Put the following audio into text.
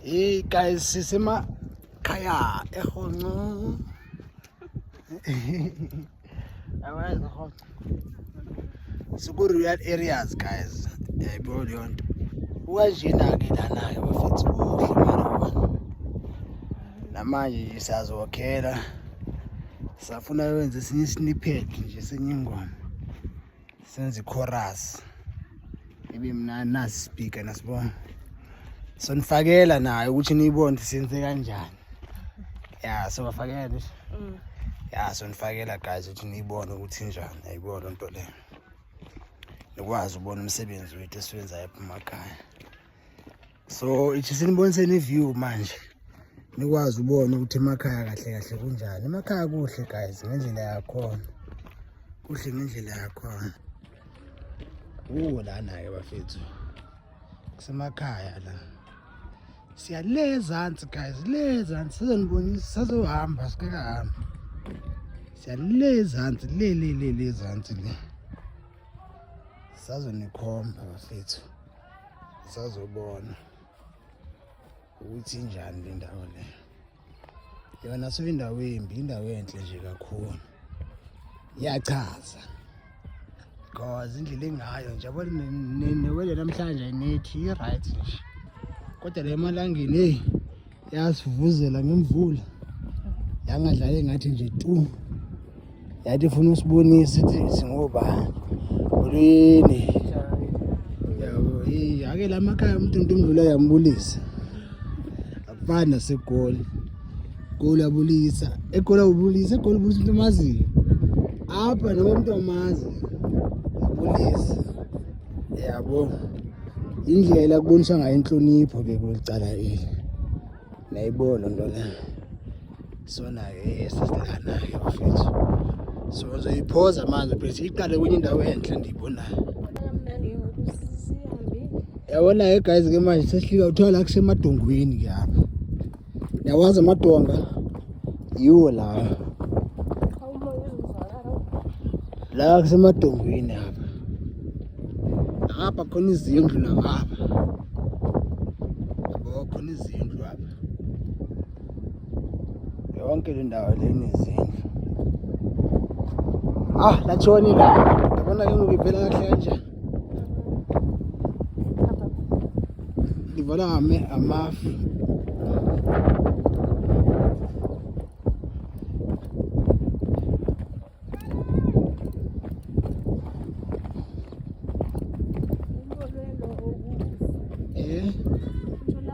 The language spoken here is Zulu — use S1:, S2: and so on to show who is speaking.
S1: Hey guys, sisema khaya ehonco. Awazi ehonco. Siku real areas guys. Yayibona eh, leyo nto. Ukanjena ke lana ke bafethu kuhle mara wona. Namanje siyazokhela. Safuna wenze sinye snippet nje senyingoma. senza ichorus ibe mnandi nasi speaker nasibona sonifakela nayo ukuthi niyibone ukuthi senze kanjani ya sobafakela nje mm. ya sonifakela guys ukuthi niyibone ukuthi njani ayibona loo nto leyo nikwazi ubona umsebenzi wethu esiwenzayo ephuma ekhaya so ithi siniboniseni iview manje nikwazi ubona ukuthi emakhaya kahle kahle kunjani emakhaya kuhle guys ngendlela yakhona kuhle ngendlela yakhona uwo lana-ke bafethu kusemakhaya la siya le ezansi guys le ezansi sizonibonisa sazohamba sikakahambi siya le ezansi le le le le ezansi le sazonikhomba bafethu sazobona ukuthi injani le ndawo le yona so indawo embi indawo enhle nje kakhulu iyachaza because indlela engayo nje yabo newele namhlanje nethi i-right nje kodwa le malangeni eyi yasivuzela ngemvula yangadlali ngathi nje tu yathi ifuna usibonisa ithi singobani ulwini yabo yake la makhaya umuntu into imvula yambulisa akufani nasegoli goli abulisa egoli abulisa egoli ubulisa umuntu omaziyo apha noma umuntu omazi abulisa yabo indlela kubonisa ngayo inhlonipho ke kulicala eli nayibona nto le sonayo esizikanayo bafethu so ngizoyiphoza manje bese iqale kwenye indawo enhle ndiyibonayo yabona-ke guys ke manje sesihlika kuthiwa la kusemadongweni ke apha Yawazi amadonga yiwo lawa la kusemadongweni apha apha khona izindlu nangapha yabo khona izindlu apha yonke le ndawo le nezindlu ah latshoni la yabona ke ngoku ivela kahle kanjani Livala ngame amafu. Eh.